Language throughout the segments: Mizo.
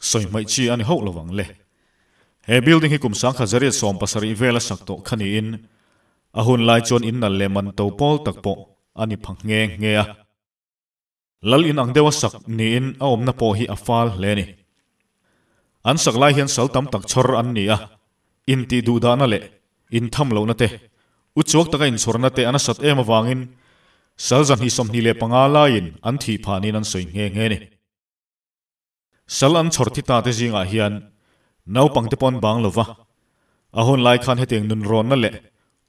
Sawi hmaih chi a ni hauh lovang le. He building hi kum sangkhat zariat sawm pasarih vel a sak tawh kha niin a hun lai chuan in nal leh man to pawl tak pawh a ni phang nghe nghe a. Lal in ang deuh a sak niin a awmna pawh hi a fal hle ni. An sak lai hian sal tam tak chhawr an ni a, intih duh dahna leh in tham lohna te, u chuak taka inchhawrna te a nasat em avangin sal za hnih sawmhnih leh panga laiin an thih phanin an sawi nghe nghe ni. Sal an chhawr thi tate zingah hian naupangte pawh an bang lo va, a hun lai khan hetiang nun rawnna leh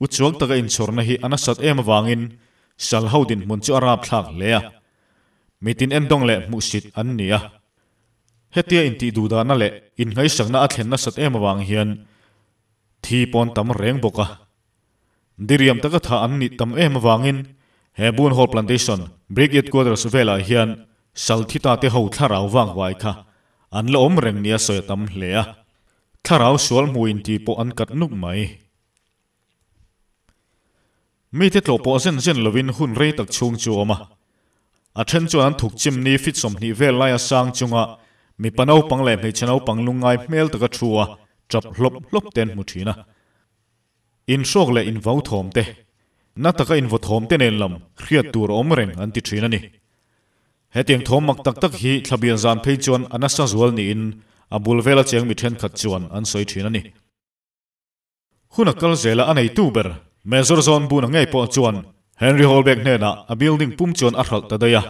u chuang taka inchhurna hi a nasat em avangin sal ho dinhmun chu a rapthlak hle a, mitin endawng leh hmuhsit an ni a. Hetia intih duhdahna leh inhaisakna a thlen nasat em avang hian thi pawn tam reng bawk a. Diriam taka thah an nih tam em avangin he Boon Hall Plantation Brick Yard Quarters velah hian Salthita te ho thlarau vangvai kha an la awm reng nia sawi a tam hle a, thlarau sual hmuh inti pawh an kat nup mai. Mite tlawh pawh zen zen lovin hun rei tak chhung chu a awm a, a then chuan an thuk chimni fit sawmhnih vel laia sang chunga mipa naupang leh hmeichhe naupang lungngai hmel taka thu a tap hlawp hlawp te an hmu thin a. Inhrawk leh invothawm te, na taka invothawm te nen lam hriat tur a awm reng an ti thin a ni. Hetiang thawm mak tak tak hi thlabian zan phei chuan a nasa zual niin a bul vel a cheng mi thenkhat chuan an sawi thin a ni. Hun a kal zela a neitu ber Major John Buna ngei pawh chuan Henry Holbek hnenah a building pum chuan a hralh ta daih a.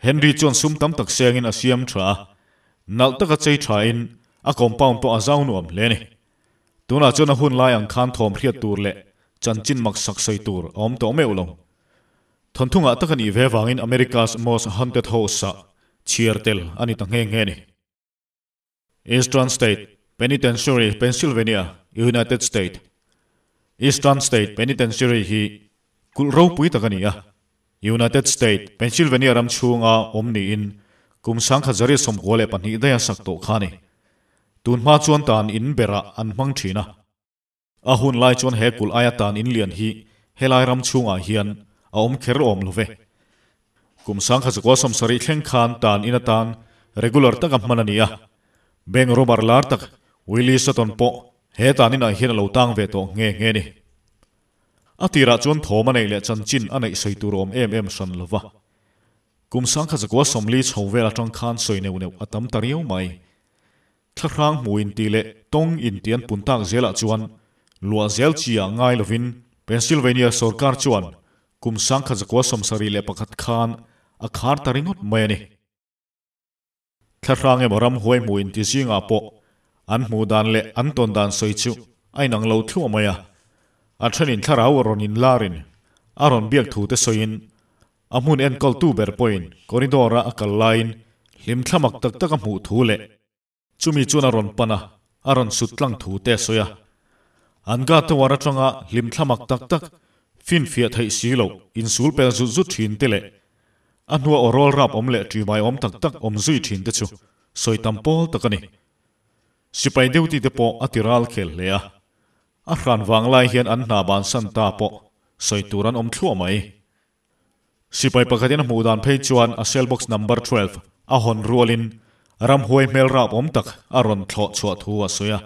Henry chuan sum tam tak sengin a siam tha a, nalh taka chei thain a compound pawh a zau nuam hle a ni. Tunah chuan a hun lai ang khan thawm hriat tur leh chanchin maksak sawi tur a awm tawh meuh lo. Thawntthungah tak a nih ve vangin America's Most Haunted House-ah chhiar tel a ni ta nghe nghe ni. Eastern State Penitentiary, Pennsylvania, United State. Eastern State Penitentiary hi kulh ropui tak a ni a, United States, Pennsylvania ram chhunga awm niin kum sangkhat zaria sawmkua leh pahnih daia sak tawh kha a ni. Tun hma chuan tan in berah an hmang thin a. A hun lai chuan he kulh aia tan in lian hi helai ram chhungah hian a awm kher awm lo ve. Kum sangkhat zakua sawm sarih thleng khan tan in atan regular taka hman a ni a. Bank robber lar tak Willie Sutton pawh he tan inah hian a lo tang ve tawh nghe nghe a ni. A tirah chuan thawm a neih leh chanchin a neih sawi tur a awm em em hran lo va. Kum sangkhat zakua sawmli chho vel atang khan sawi neuh neuh a tam ta riau mai. Thlahrang hmu inti leh tawng inti an pun tak zel ah chuan luah zel chi ah ngai lovin Pennsylvania sorkar chuan kum sangkhat zakua sawmsarih leh pakhat khan a khar ta ringawt mai a ni. Thlahrang emaw ram huai hmuh inti zingah pawh an hmuh dan leh an tawn dan sawi chu a inang lo thluah mai a. A thenin thlarau a rawn inlarin a rawn biak thute sawiin a hmun enkawltu ber pawhin corridor-a a kal laiin hlim thlamak tak taka hmuh thu leh, Chumi chuan a rawn pan a, a rawn sut tlang thu te a sawi a. An guard te uar atanga hlim thla mak tak tak, finfiah theih si lo, insul pel zut zut thin te leh a hnua aw rawl rap awm leh tui baiawm tak tak awm zui thin te chu sawi tam pawl tak a ni. Sipai Deuti te pawh a ti ral khel hle a, a hran vang lai hian an hna ban san ta pawh sawi tur an awm thluah mai. Sipai pakhatin a hmuh dan phei chuan a cell box number twelve a hawn rualin ramhuai hmelrap awm tak a rawn thlawh chhuah thu a sawi a.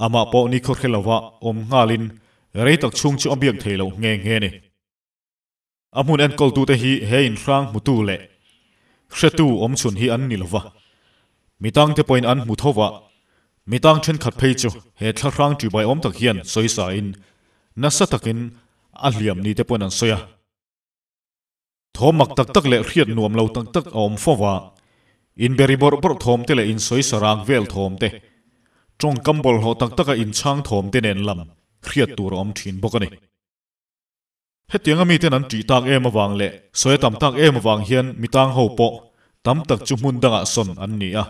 Amah pawh ni khawhre lova awm nghalin rei tak chhung chu a biak thei lo nghe nghe ni. A hmun enkawltute hi he inhrang hmutu leh hretu awmchhun hi an ni lova, Mi tangte pawhin an hmu tho vah. Mi tang thenkhat phei chu he thlahrang ṭi baiawm tak hian sawi sain nasa takin a hliam ni te pawhin an sawi a. Thawm mak tak tak leh hriat nuam lo tak tak a awm fo vah. Inberi bawrh bawrh thawm te leh insawi sa rang vel thawm te, ṭawngkam bawlhhlawh tak taka inchhang thawm te nen lam hriat tur a awm ṭhin bawk a ni. Hetianga miten an tih tak em avang leh sawi a tam tak em avang hian mi tang ho pawh tam tak chu hmun dangah sawn an ni a.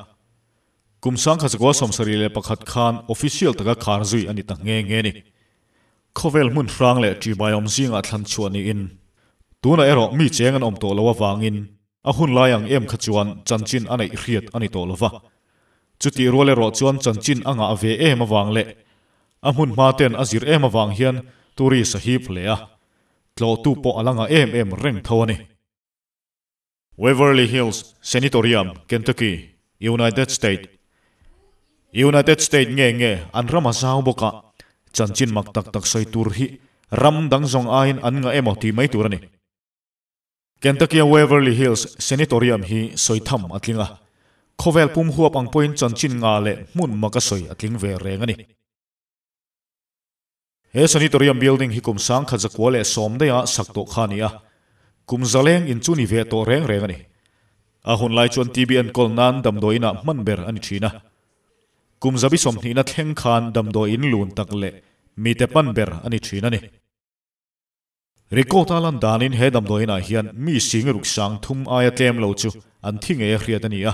Kum sangkhat zakua sawmsarih leh pakhat khan official taka khar zui a ni ta nghe nghe ni. Khawvel hmunhrang leh ṭihbaiawm zingah thlan chhuah niin tunah erawh mi cheng an awm tawh lo avangin, A hun lai ang em kha chuan chanchin a neih hriat a ni tawh lo va. Chutih rual erawh chuan chanchin a ngah ve em avang leh a hmunhma ten a zir em avang hian tourist a hip hle a, tlawhtu pawh a la ngah em em reng tho a ni. Waverly Hills Sanitorium, Kentucky, United State United State nge nge an ram a zau bawk a, chanchin mak tak tak sawi tur hi ram dang zawng aiin an ngah emaw tih mai tur a ni. Kentucky-a Waverly Hills Sanitorium hi sawi tham a tling a, khawvel pum huap ang pawhin chanchin nga leh hmun maka sawi a tling ve reng a ni. He Sanitorium building hi kum sangkhat zakua leh sawmdaia sak tawh kha a ni a, kum zaleng in chu ni ve tawh reng reng a ni. A hun lai chuan TBN kawl nan damdawi inah hman ber a ni thin a. Kum zabi sawmhnihna thleng khan damdawi in lun tak leh mite hman ber a ni thin a ni. Record a lan danin he damdawiinah hian mi sing ruk sang thum aia tlem lo chu an thi ngei a hriat a ni a.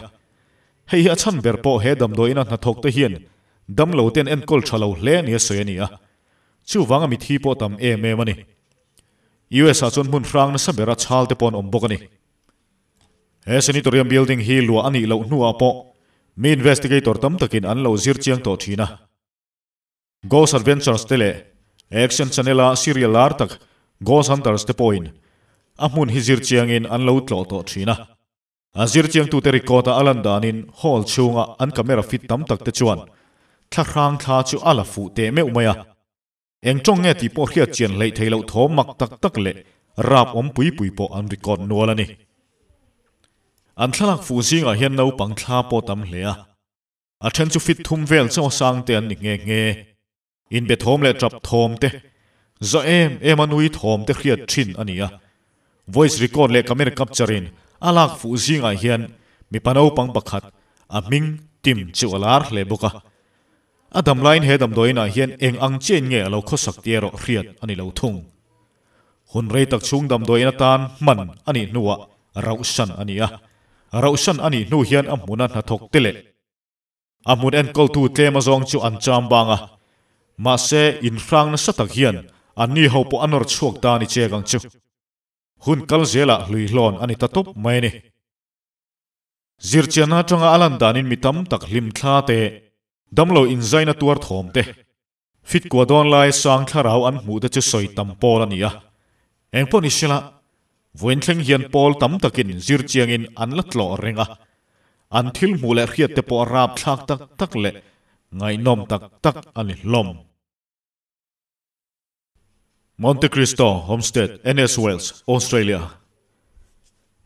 Hei hi a chhan ber pawh he damdawiina hnathawk te hian dam lo ten enkawl tha lo hle nia sawi a ni a. Chuvanga mithi pawh tam em em a ni. US ah chuan hmun hrang nasa bera chhal te pawh an awm bawk a ni. He Sanitorium building hi luah a nih loh hnuah pawh mi investigator tam takin an lo zir chiang tawh thin a. Ghost Adventures te leh Action Channel-a serial lar tak Ghost Hunters te pawhin a hmun hi zir chiangin an lo tlawh tawh thin a. A zir chiangtute record-a a lan danin hall chhunga an camera fit tam tak te chuan thlahrang thla chu a la fuh teh meuh mai a. Eng tawng nge tih pawh hriat chian hleih thei loh thawm mak tak tak leh rap awm pui pui pawh an record nual a ni. An thlalak fuh zingah hian naupang thla pawh tam hle a. A then chu fit thum vel chaw sang te an ni nghe nghe. In be thawm leh tap thawm te, zawh em em a nui thawm te hriat thin a ni a. Voice record leh camera capture in a lak fuh zingah hian mipa naupang pakhat a hming Tim chu a lar hle bawk a. A damlain he damdawiin ah hian eng ang chiahin nge a lo khawsak tia rawh hriat a ni lo thung. Hun rei tak chhung damdawiin atan hman a nih hnuah rauhsan a ni a, rauhsan a nih hnu hian a hmuna hnathawk te leh a hmun enkawltu tlema zawng chu an cham bang a, mahse inhrang nasa tak hian anni ho pawh a nawr chhuak ta a ni chek ang chu. Hun kal zela hluihlawn a ni ta tawp mai a ni. Zirchianna atanga a lan danin mi tam tak hlimthla te, damlo inzaina tuar thawm te, Fit kuah dawn lai sang thlarau an hmuh te chu sawi tam pawl a ni a, eng pawh ni sela vawiin thleng hian pawl tam takin zir chiangin an la tlawh reng a, an thil hmuh leh hriat te pawh rap thlak tak tak leh ngaihnawm tak tak a ni hlawm. Monte Cristo Homestead, NS Wales, Australia,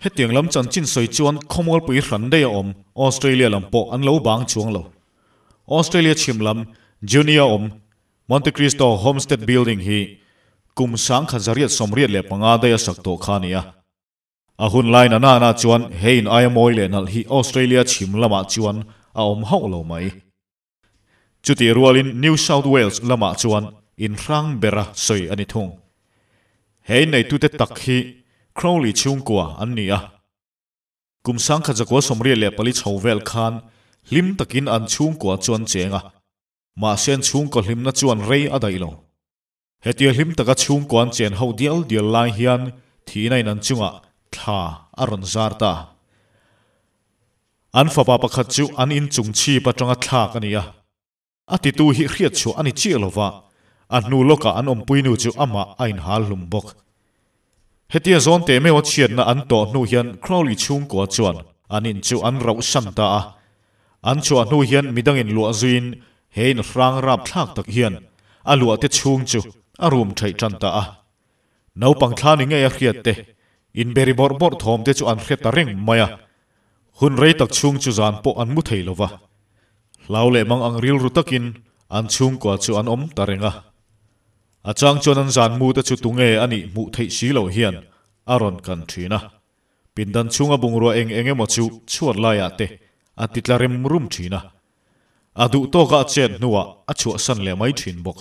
Hetiang lam chanchin sawi chuan khawmualpui hran daih a awm Australia lam pawh an lo bang chuang lo. Australia chhim lam Junee a awm Monte Cristo Homestead Building hi kum sangkhat zariat sawmriat leh panga daih a sak tawh kha a ni a. A hun lai na nana chuan he in aia mawi leh nalh hi Australia chhim lamah chuan a awm hauh lo mai. Chutih rualin New South Wales lamah chuan inhrang bera sawi a ni thung. He inneitute tak hi Crowley chhungkua an ni a. Kum sangkhat zakua sawmriat leh pali chho vel khan hlim takin an chhungkua chuan cheng a, mahse an chhungkaw hlimna chuan rei a daih lo. Hetia hlim taka chhungkua an chen ho dial dial lai hian thihna in an chungah thla a rawn zar ta. An fapa pakhat chu an inchung chhip atanga thlak a ni a. A titu hi hriatchhuah a ni chiah lo va, a hnu lawkah an awmpuinu chu amah a inhal hlum bawk. Hetia zawn tehmeu a chhiatna an tawh hnu hian Crowley chhungkua chuan an in chu an rauh hran ta a. An chhuah hnu hian midangin luah zuiin he in hrang rap thlak tak hian a luahte chhung chu a rum thaih tan ta a. Naupang thla ni ngei a hriat te, in beri bawrh bawrh thawm te chu an hre ta reng mai a. Hun rei tak chhung chu zan pawh an mu thei lo va. Hlau leh mang ang rilru takin an chhungkua chu an awm ta reng a. A chang chuan an zan mu te chu tunge a nih hmuh theih si lo hian a rawn kan thin a, pindan chhunga bungrua eng eng emaw chu chhuat laiah te a ti tla rim rum thin a, a duh tawka a chet hnuah a chhuahsan leh mai thin bawk.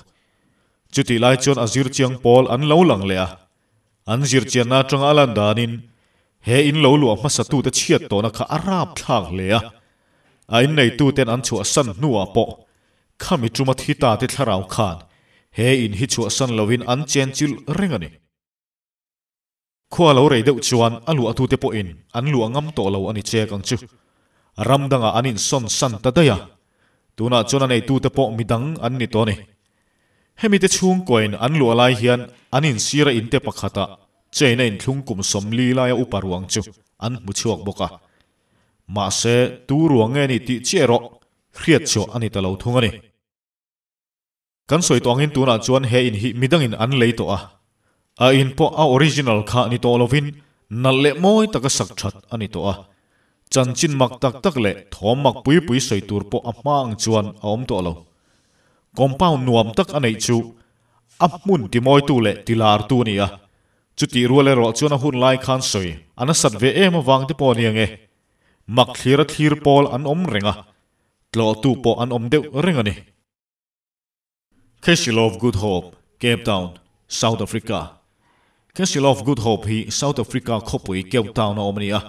Chutih lai chuan a zir chiang pawl an lo lang leh a, An zirchianna atanga a lan danin he in lo luah hmasatute chhiat tawhna kha a rap thlak hle a. A inneituten an chhuahsan hnuah pawh khami tuma thi ta te thlarau khan he in hi chhuahsan loin an chenchilh reng a ni. Khua lo rei deuh chuan a luahtute pawhin an luah ngam tawh lo a ni chek ang chu. Ram dangah an insawn san ta daih a, tunah chuan a neitute pawh midang an ni tawh a ni. Hemi te chhung coin an luah lai hian an insira inte pakhatah chain a inthlung kum sawm li laia upa ruang chu an hmu chhuak bawk a. Mahse, tu ruang nge ni tih chiah erawh hriatchhuah a ni ta lo thung a ni. Kan sawi tawh angin tunah chuan he in hi midangin an lei tawh a, A in pawh a original kha ni tawh lovin nalh leh mawi taka sak that a ni tawh a, chanchin mak tak tak leh thawm mak pui pui sawi tur pawh a hma ang chuan a awm tawh lo. Compound nuam tak a neih chu a hmun timawitu leh tilartu a ni a, chutih rual erawh chuan a hun lai khan sawi a nasat ve em avang te pawh a ni ang e. Mak thlir a thlir pawl an awm reng a, tlawhtu pawh an awm deuh reng a ni. Castle of Good Hope, Cape Town, South Africa, Castle of Good Hope hi South Africa khawpui Cape Town a awm a ni a.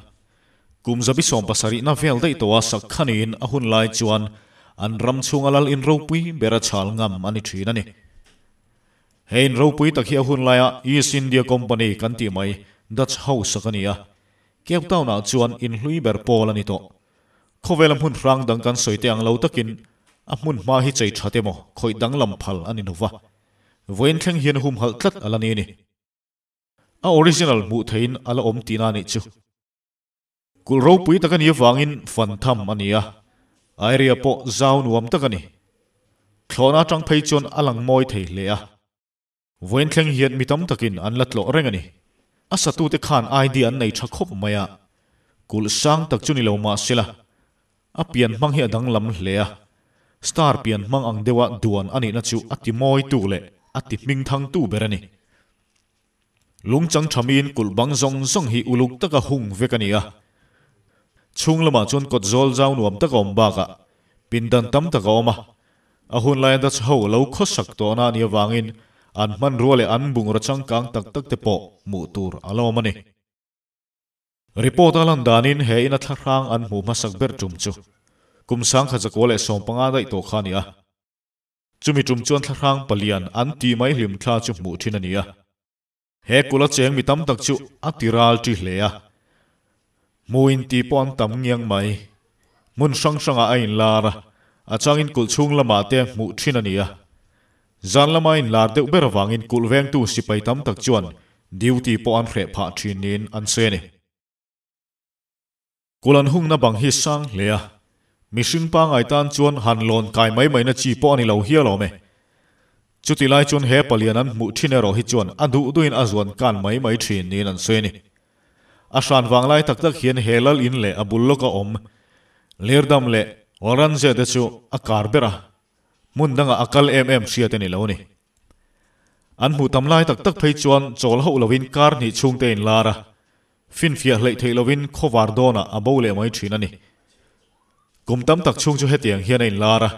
Kum zabi sawm pasarihna vel daih tawha sak kha niin a hun lai chuan an ram chhunga lal in ropui bera chhal ngam a ni thin a ni. He in ropui tak hi a hun laia East India Company kan tih mai Dutch ho sak a ni a. Cape Town ah chuan in hlui ber pawl a ni tawh. Khawvela hmun hrang dang kan sawi teh ang lo takin a hmun hma hi chei that emaw khawih danglam phal a ni hnu va, vawiin thleng hian humhalh tlat a la ni ni. A original hmuh theihin a la awm tihna a nih chu. Kulh ropui tak a ni avangin fan tham a ni a, a area pawh zau nuam tak a ni. Thlawhna atang phei chuan a lang mawi thei hle a. Vawiin thleng hian mi tam takin an la tlawh reng a ni. A satute khan ID an nei tha khawp mai a, kulh sang tak chu ni lo mah se la, a pian hmang hi a danglam hle a. Star pian hmang ang deuha duan a nihna chu a timawitu leh a tihming thangtu ber a ni. Lungchang tha miin kulh bang zawng zawng hi uluk taka hung vek a ni a. Chhung lamah chuan kawt zawl zau nuam taka awm bakah pindan tam tak a awm a, A hun laiin Dutch ho lo khawsak tawhna a nih avangin an hmanrua leh an bungraw changkang tak tak te pawh hmuh tur a lo awm a ni. Report a lan danin he ina thlahrang an hmuh hmasak ber tum chu kum sangkhat zakua leh sawm panga daih tawh kha a ni a. Chumi tum chuan thlahrang palian an tih mai hlim thla chu hmuh thin a ni a. He kula cheng mi tam tak chu a ti ral ṭi hle a, hmu in ti pawh an tam ngiang mai. Hmun hrang hrangah a inlar a, a changin kulh chhung lamah te hmuh ṭhin a ni a. Zan lama inlar deuh ber avangin kulh vengtu sipai tam tak chuan duty pawh an hreh phah ṭhin niin an se a ni. Kul an hungna bang hi sang hle a, mihring pangai tan chuan han lawn kai mai mai na chi pawh a ni lo hial awm e. Chuti lai chuan he palian an hmuh thin erawh hi chuan a duh duhin a zuan kan mai mai thin niin an sawi a ni. A hran vang lai tak tak hian he lal in leh a bul lawk a awm Lirdam leh Walranjia te chu a kar ber a, hmun dangah a kal em em hriat a ni lo a ni. An hmuh tam lai tak tak phei chuan chawl hauh lovin kar hnih chhungte in lar a, Finfiah hleih theih lovin khawvar dawnah a bo leh mai thin a ni. Kum tam tak chhung chu hetiang hian a inlar a.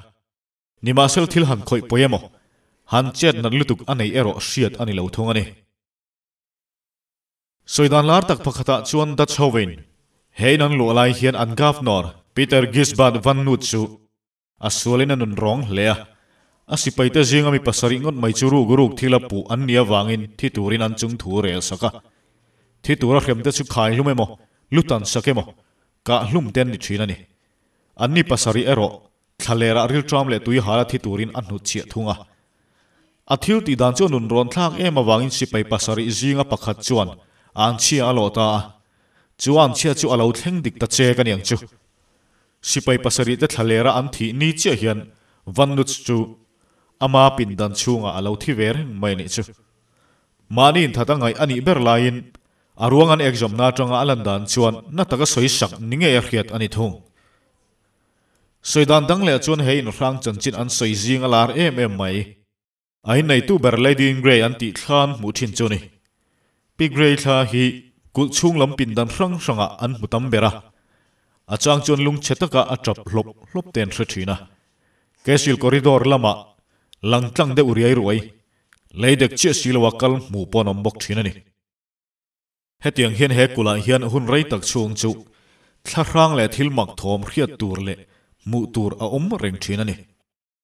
Nimahsel thil han khawih pawi emaw, han chet nat lutuk a nei erawh hriat a ni lo thung a ni. Sawi dan lar tak pakhatah chuan Dutch ho vein, he in an luah lai hian an Governor, Pieter Gisbert van Noot chu, A sualin a nun rawng hle a. A sipaite zinga mi pasarih ngawt mai chu ruk ruk thil a puh an nih avangin thi turin an chung thu rel sak a. Thi tura hremte chu khaihlum emaw, lu tan sak emaw, kah hlum te an ni thin a ni. An ni pasarih erawh thla lerah rilṭam leh tuihâla thi turin a hnut chhiah thung a. A thil tih dan chu a nun rawn thlak em avangin sipai pasarih zinga pakhat chuan a an chhia a lawh ta a. Chu a an chhia chu a lo thleng dik ta che ka niang chu. Sipai pasarihte thlalera an thih ni chiah hian Vannuts chu ama pindan chhungah a lo thi ve reng mai a nih chu. Mahni in that a ngaih a nih ber laiin a ruang an ekzawmna atanga a lan dan chuan na taka sawi sak ni ngei a hriat a ni thung. Sawi dan dang leh chuan he inhrang chanchin an sawi zing a lar em em mai. A inneitu ber Ladian Gray an tih thlan hmuh thin chu ni. Pi Gray thla hi kulh chhung lam pindan hrang hrangah an hmu tam ber a, a chang chuan lung chhe taka a ṭap hlawp hlawp ten hre thin a. Cecil Corridor lamah lang tlang deuh riai ruai, lei dek chiah si loa kal hmuh pawh an awm bawk thin a ni. Hetiang hian he kulhah hian hun rei tak chhung chu thlahrang leh thil mak thawm hriat tur leh hmuh tur a awm reng thin a ni.